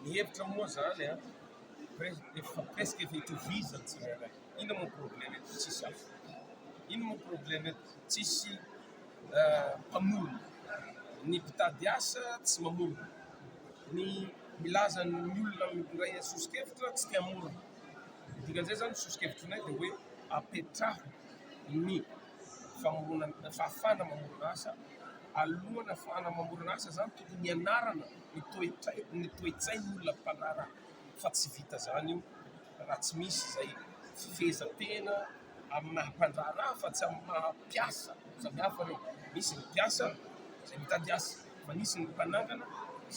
Ny hevitra moa zany an, efa presque efa itovizany tsirairay, inona moa problème eto tsisy hafa, inona moa problème eto tsisy mpamorona, ny mpitady asa tsy mamorona, ny milaza ny olona mitondray sosokevitra tsy te hamorona, ny dikan'izay zany ny sosokevitrinay dia hoe apetraho ny famorona, fahafahana mamorona asa, alohan'ny hahafahana mamorona asa zany tokony hianarana. ny toetsain ny toetsain olona mpanaraka fa tsy vita zany io raha tsy misy zay fifehezantena amy maha mpandraharaha fa tsy amy maha mpiasa samy hafa reo misy ny mpiasa zay mitady asa fa nisy ny mpanangana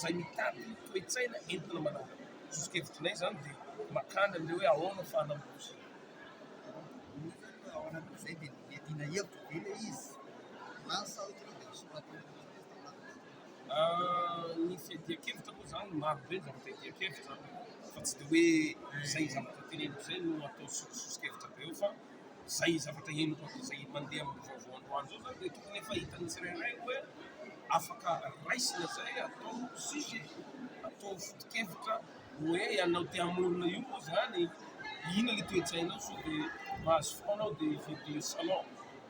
zay mitady toetsaina entina manangana sosokevitry nay zany de makany amle hoe ahoana fahanambosy zay de mety na hevitra be le izy. Ny fiadian-kevitra moa izany maro be izany fiadian-kevitra fa tsy dia hoe izay zavatra teneniko izay no atao soso-sosokevitra be eo fa izay zavatra henoko atao izay mandeha amin'ny vaovao androany izao izany dia tokony efa hitan'ny tsirairay hoe afaka raisina izay atao sujet, atao foto-kevitra hoe ianao te hamorona io moa izany inona ilay toe-tsainao sao dia mahazo fotoana aho dia hividy salon.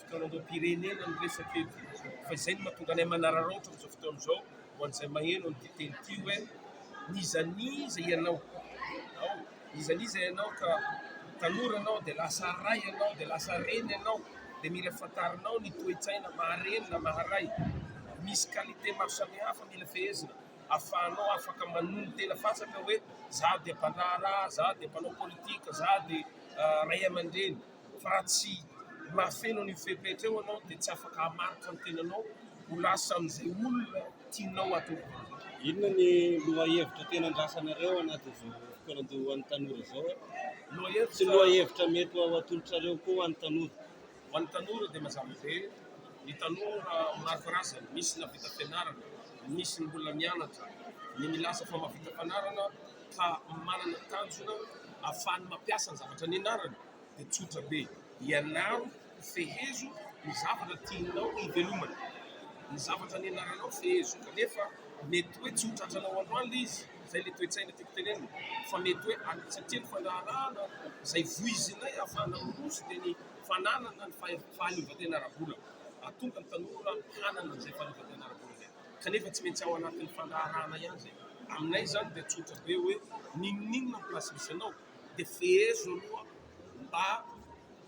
Fikaroham-pirenena no resaka eto fa izay no mahatonga anay manararaotra amin'izao fotoana izao ho an'izay maheno an'ity teny ity hoe n'iza n'iza ianao ao, n'iza n'iza ianao ka tanora ianao dia lasa ray ianao dia lasa reny ianao dia mila fantarinao ny toe-tsaina maha reny na maha ray, misy qualité maro samihafa mila fehezina ahafahanao afaka manohy ny tena fatratra hoe za dia mpandraharaha, za dia mpanao politika, za dia ray aman-dreny. fa raha tsy mahafeno an'io fepetra io ianao dia tsy afaka hamaritra ny tenanao ho lasa amin'izay olona tianao hatao vahoaka. Inona ny lohahevitra tena andrasanareo ao anatin'izao fotoanan'ity ho an'ny tanora izao? Lohahevitra... Sy lohahevitra mety ho atolotrareo koa ho an'ny tanora? Ho an'ny tanora dia mazava be, ny tanora maro karazany, misy nahavita fianarana, misy mbola mianatra, ny milaza fa mahavita fanarana ka manana tanjona ahafahany mampiasa ny zavatra nianarany dia tsotra be, ianaro fehezo ny zavatra tianao hivelomana, ny zavatra nianaranao fehezo kanefa mety hoe tsy ho tratranao androany ilay izy, izay ilay toe-tsaina tiako tenenina fa mety hoe any satria ny fandraharahana izay voizinay ahafahana miroso dia ny fananana ny fahaleovantena ara-bola, ahatonga ny tanora hanana izay fahaleovantena ara-bola izay. kanefa tsy maintsy ao anatin'ny fandraharahana ihany izay. Aminay izany dia tsotra be hoe n'inon'inona ny place misy anao dia fehezo aloha mba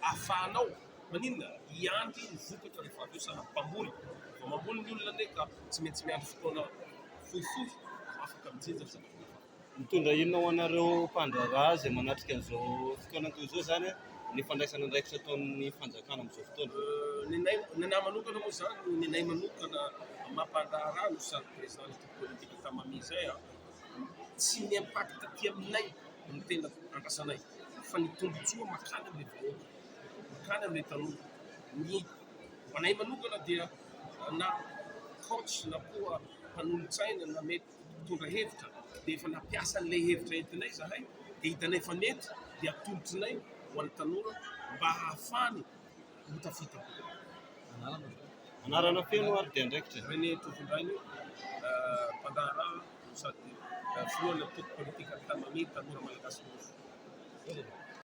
ahafahanao maninona? hiandry ny vokatra rehefa avy eo sahala amin'ny mpamboly, vao mamboly ny olona anie ka tsy maintsy miandry fotoana fohifohy vao afaka mijinja ny zavatra rehefa avy eo. Mitondra inona ho anareo mpandraharaha izay manatrika an'izao fotoana toy izao izany ny fandraisana andraikitra ataon'ny fanjakana amin'izao fotoana? Nenay, nenay manokana moa izany, nenay manokana maha mpandraharaha no sady président ny équipe politique efa mamily izay an, tsy ny impact aty aminay no tena andrasanay fa ny tombotsoa mankany amin'ny vahoaka, mankany amin'ny tanora. Ny ho anay manokana dia na coach na koa mpanolotsaina na mety. mpitondra hevitra dia efa nampiasa an'ilay hevitra entinay izahay dia hitanay fa mety dia atolotrinay ho an'ny tanora mba hahafahany ho tafita kokoa. Anarana avy eo. Anarana feno ary dia andraikitra. René Tovindrainy, mpandraharaha no sady filohan'ny antoko politika Ampitamamehy, tanora malagasy mora fo.